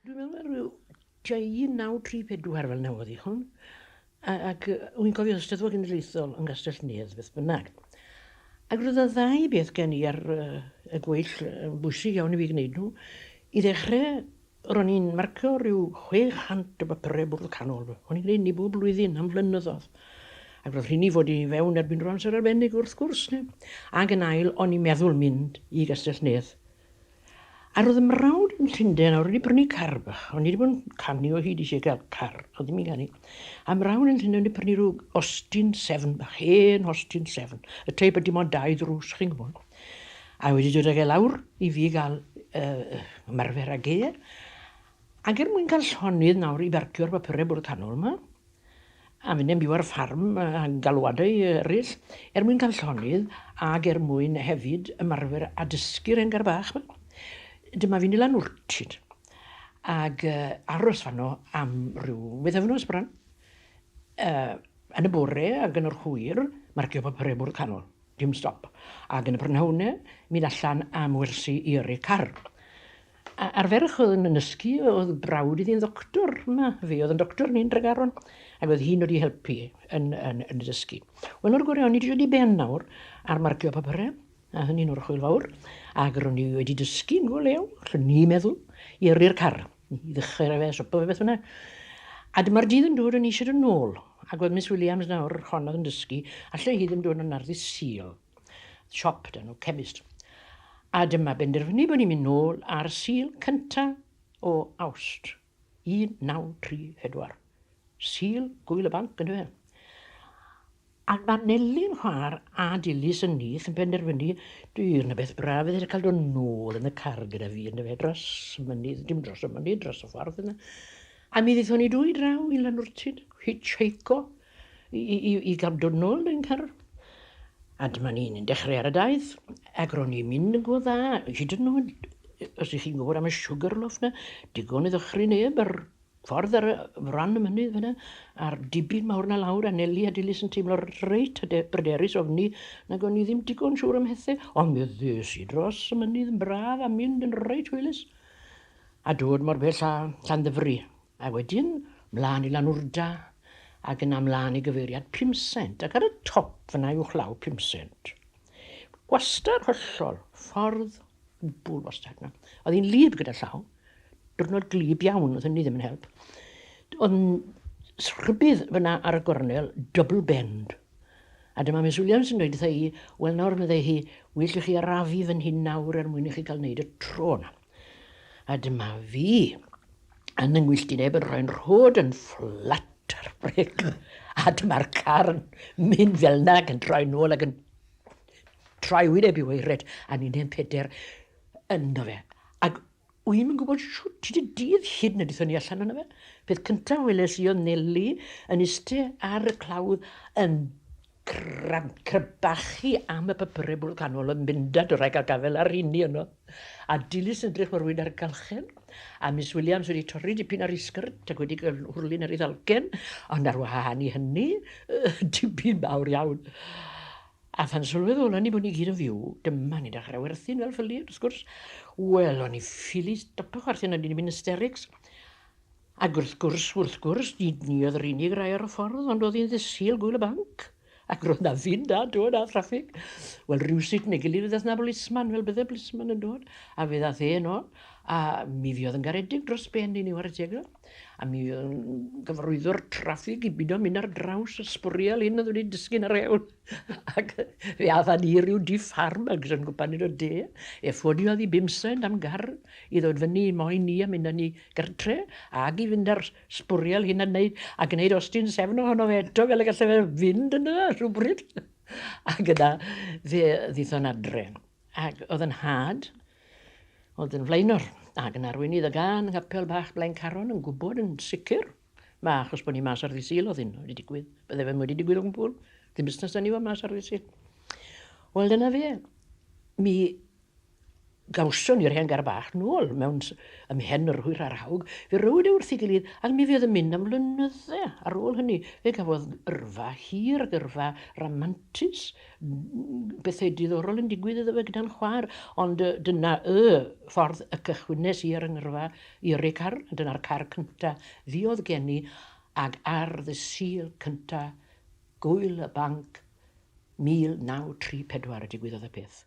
Dwi'n meddwl mae rhyw tua 1934 fel yna oedd hi hwn. A, ac wy'n cofio Eisteddfod Genedlaethol yn Gastell Nedd, beth bynnag. Ac roedd y ddau beth gen i ar uh, y gweill yn bwysig iawn i fi gwneud nhw. I ddechrau, ro'n i'n marcio rhyw 600 o bapurau bwrdd canol. O'n i'n gwneud ni bob blwyddyn am flynyddoedd. Ac roedd rhini fod i fewn erbyn rwan sy'n arbennig wrth gwrs. Ne? Ac yn ail, o'n i'n meddwl mynd i Gastell Nedd A roedd mrawd yn Llundain a roedd wedi prynu car bach. O'n i wedi bod yn canu o hyd eisiau cael car. Oedd ddim i ganu. A mrawd yn Llundain wedi prynu rhyw Austin 7 bach. Hen Austin 7. Y teip ydy mo'n dau ddrws, chi'n gwybod. A wedi dod ag e lawr i fi gael uh, ymarfer ag e. Ac er mwyn cael llonydd nawr i barcio'r bapurau bwrdd canol yma, a minnau'n byw ar y ffarm a galwadau eraill, er mwyn cael llonydd ac er mwyn hefyd ymarfer a dysgu'r engar bach. Dyma fi'n ilan wrtid ac uh, aros fanno am rhyw wythefnos bron. Uh, yn y bore ac yn yr hwyr, marcio papurau bwrdd canol, dim stop. Ac yn y prynhawnau, mynd allan am wersi i yrru car. A arferwch oedd yn ysgu, oedd brawd iddi'n ddoctor, ma, fe oedd yn doctor ni'n Dregaron, ac oedd hi'n wedi helpu yn, yn, yn y dysgu. Wel, nawr gore, o'n i wedi dod i ben nawr ar marcio papyrau, a hynny'n orchwyl fawr, ac ro'n i wedi dysgu yn go lew, lle ni meddwl, i yrru'r car, i ddechrau rhaid fe, sopa fe beth fyna. A dyma'r dydd yn dod yn eisiau yn ôl, ac oedd Miss Williams nawr, hon oedd yn dysgu, allai hi ddim dod yn arddu syl. siop 'da nhw, cemist. A dyma benderfynu bod ni'n mynd nôl ar Sul cynta o Awst 1934. Sul Gŵyl y Banc yndyfe? Ac mae Neli'n chwa'r a Dilys yn nith yn penderfynu dwi'n y beth braf fydd e'n cael dod nôl yn y car gyda fi yndyfe dros y mynydd, dim dros y mynydd, dros y ffordd yna. A mi ddethon ni dwy draw i Lanwrtyd, hitchheico, i, i, i, i gael dod nôl yn car. A dyma ni'n dechrau ar y daith, ac ro'n i'n mynd yn go dda, hyd yn oed, os ych chi'n gwybod am y sugar loaf na, digon i ddychry neb ar ffordd ar y fran y mynydd fyna, a'r dibyn mawr na lawr, a Nelly a Dilys yn teimlo reit bryderus ofni, nag o'n i ddim digon siŵr am hethau, ond mi ddes i dros y mynydd yn braf a mynd yn reit hwylus, a dod mor bell â Llanddyfri. A wedyn, 'mlân i Lanwrda, ac yna 'mlân i gyfeiriad Pumsent, ac ar y top fan'na uwchlaw Pumsent. Gwastad hollol, ffordd gwbwl wastad 'na. Oedd hi'n wlyb gyda llaw, diwrnod gwlyb iawn, oedd hynny ddim yn help. Oedd rhybudd fan'na ar y gornel, double bend. A dyma Miss Williams yn dweud wrtha i, 'Wel nawr, meddai hi, 'well i chi arafu fan hyn nawr er mwyn i chi cael wneud y tro 'na. A dyma fi yn yng ngwyllt i neb yn rhoi'n rhod yn fflat ar brec. A dyma'r car yn mynd fel na ac yn troi nôl ac yn troi wyneb i weired a ni'n hen peder ynddo fe. Ac wy'n i'n gwybod siwt ti dy dydd hyd na dython ni allan yna fe. Peth cyntaf weles i oedd Nelly yn iste ar y clawdd yn Crybbachu am y papurau bwrdd canol yn mynd a dwrhag a gafael ar rheiny yno, a dilys yn edrych mor wyn ar galchen, a Miss Williams wedi torri dipyn ar ei sgyrt ac wedi cael hwrlyn ar ei ddalcen, ond ar wahân i hynny, dipyn mawr iawn. A phan sylweddolon ni bod ni gyd yn fyw, dyma ni'n dechrau werthin fel ffyli, wrth gwrs. Wel, o'n i'n ffili stopo chwerthin, o'n i'n mynd hysterics. Ac wrth gwrs, wrth gwrs, nid ni oedd yr unig rai ar y ffordd, ond oedd hi'n ddydd-Sul gŵyl y banc, ac roedd 'na fyn da, do, na thraffig. Wel, rywsut neu gilydd fe ddaeth 'na bolisman, fel bydde bolisman yn dod, a fe ddaeth e yno, a mi fuodd yn garedig dros ben i ni ware teg iddo, a mi fuodd yn gyfarwyddo'r traffig i bido mynd ar draws y sbwriel hyn oedd wedi disgyn ar hewl, ac fe ath â ni i ryw dŷ ffarm ag yn gwpan yn y de, e ffodiodd i bum sent am gar i ddod fyny i moyn ni a mynd â ni gartre ag i fynd a'r sbwriel hyn a wneud, a gwneud ostyn sefn ohono fe eto fel y gallai fe fynd yna rhywbryd. Ac yna fe ddithon adre. Ac oedd yn had, oedd yn flaenor, ac yn arweinydd y gan ngapel bach Blaencaron yn gwybod yn sicr, mae achos bod ni mas ar ddisil oedd hyn wedi digwydd, bydde fe wedi digwydd o gwbl, ddim busnes da ni fod mas ar ddisil. Wel dyna fe, mi Gawson ni'r hen gar bach nôl mewn ymhen yr hwyr a'r hawg, fe rowyd e wrth ei gilydd ac mi fuodd yn mynd am flynydde ar ôl hynny. Fe gafodd yrfa hir ac yrfa ramantus, pethau diddorol yn digwydd iddo fe gyda'n chwaer, ond dyna y ffordd y cychwynnes i ar 'y ngyrfa i yrru car, a dyna'r car cynta' fuodd gen i, ag ar ddydd Sul cynta' Gŵyl y Banc 1934 y digwyddodd y peth.